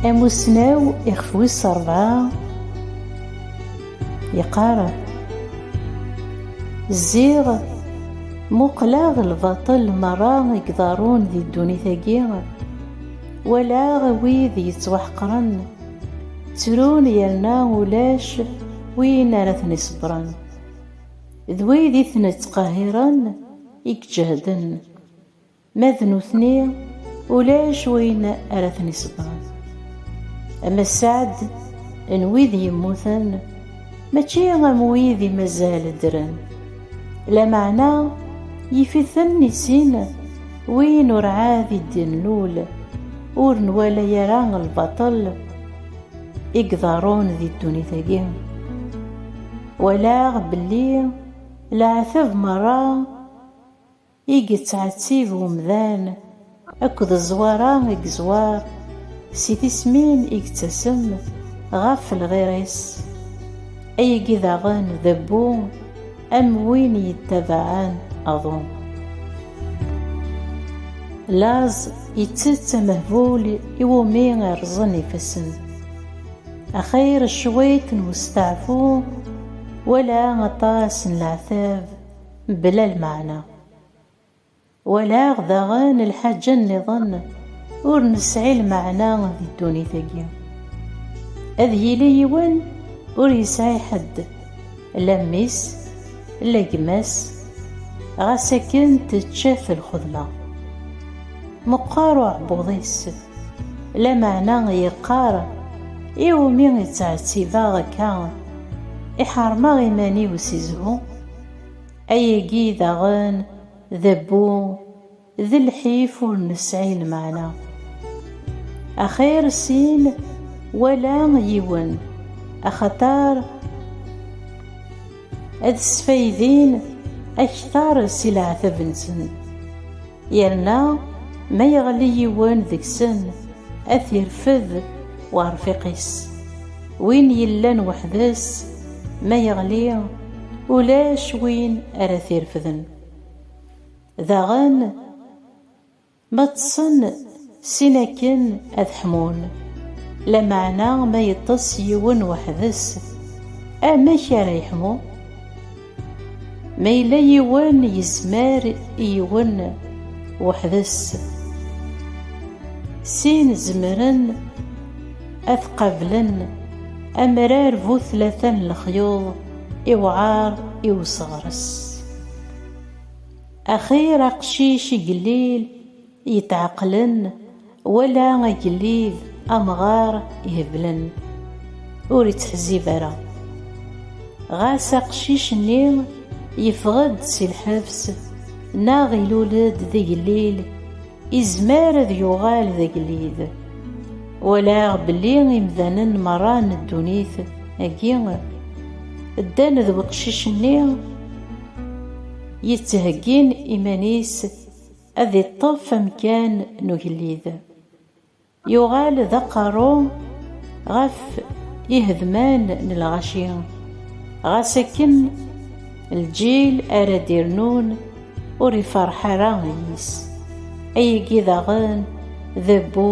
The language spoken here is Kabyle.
Amussnaw ixef wis rebɛa yeqqar Ziɣ muqleɣ lbaṭel merra i iḍarrun di ddunit-agi, walaɣ wid yettwaḥeqren ttrun yerna ulac win ara ten-iṣebbren, d wid i ten-ittqehhiren i iǧehden. Ma d nutni ulac wayen ara ten-iṣebbren. Ama sseɛd n wid yemmuten mačči am wid i mazal ddren. Lameɛna yif-iten i sin win ur ɛad i d-nlul, ur nwala ara lbaṭel i iḍerrun di ddunit-agi. Walaɣ belli leɛtab merra. I yettɛettib umdan akked zzwara i yeẓwar si tismin i yettasem ɣef lɣir-is, ayagi daɣen d abbu am win yettabaɛen aḍu. Laẓ yettett amehbul iwumi rrẓen ifassen. Axir cwiṭ n westeɛfu wala aṭas n leɛtab. mebla lmeɛna. Walaɣ daɣen lḥaǧa nniḍen ur nesɛi lmeɛna di ddunit-agi. Ad yili yiwen ur yesɛi ḥedd, la mmi-s, la gma-s, ɣas akken tečča-t lxedma. Meqqer uɛebbuḍ-is, lameɛna yeqqar, Iwumi i ttɛettibeɣ akka, i ḥeṛmeɣ iman-iw si zzhu? Ayagi daɣen d abbu d lḥif ur nesɛi lmeɛna. Axir sin wala yiwen axaṭer ad sfaydin akteṛ si leɛtab-nsen. Yerna ma yeɣli yiwen deg-sen, ad t-irfed uɛerfiq-is. Win yellan weḥd-s, ma yeɣli, ulac win ara t-irefden. Daɣen, ma ṭṭsen sin akken ad ḥmun, lameɛna ma yeṭṭes yiwen weḥd-s, amek ara yeḥmu? Ma yella yiwen yezmer i yiwen weḥd-s, sin zemren ad qablen amrar bu tlata n lexyuḍ iwɛar i useɣres. Axir aqcic igellil yetɛeqqlen wala agellid amɣar iheblen ur ittḥezzib ara. Ɣas aqcic-nni yeffeɣ-d si lḥebs neɣ ilul-d d igellil, izmer ad yuɣal d agellid. Walaɣ belli imdanen merra n ddunit agi ddan d weqcic-nni yettheggin iman-is, Ad iṭṭef amkan n ugellid. Yuɣal d aqerru ɣef ihedman n lɣaci, ɣas akken lǧil ara d-irnun ur iferreḥ ara yis. Ayagi daɣen d abbu.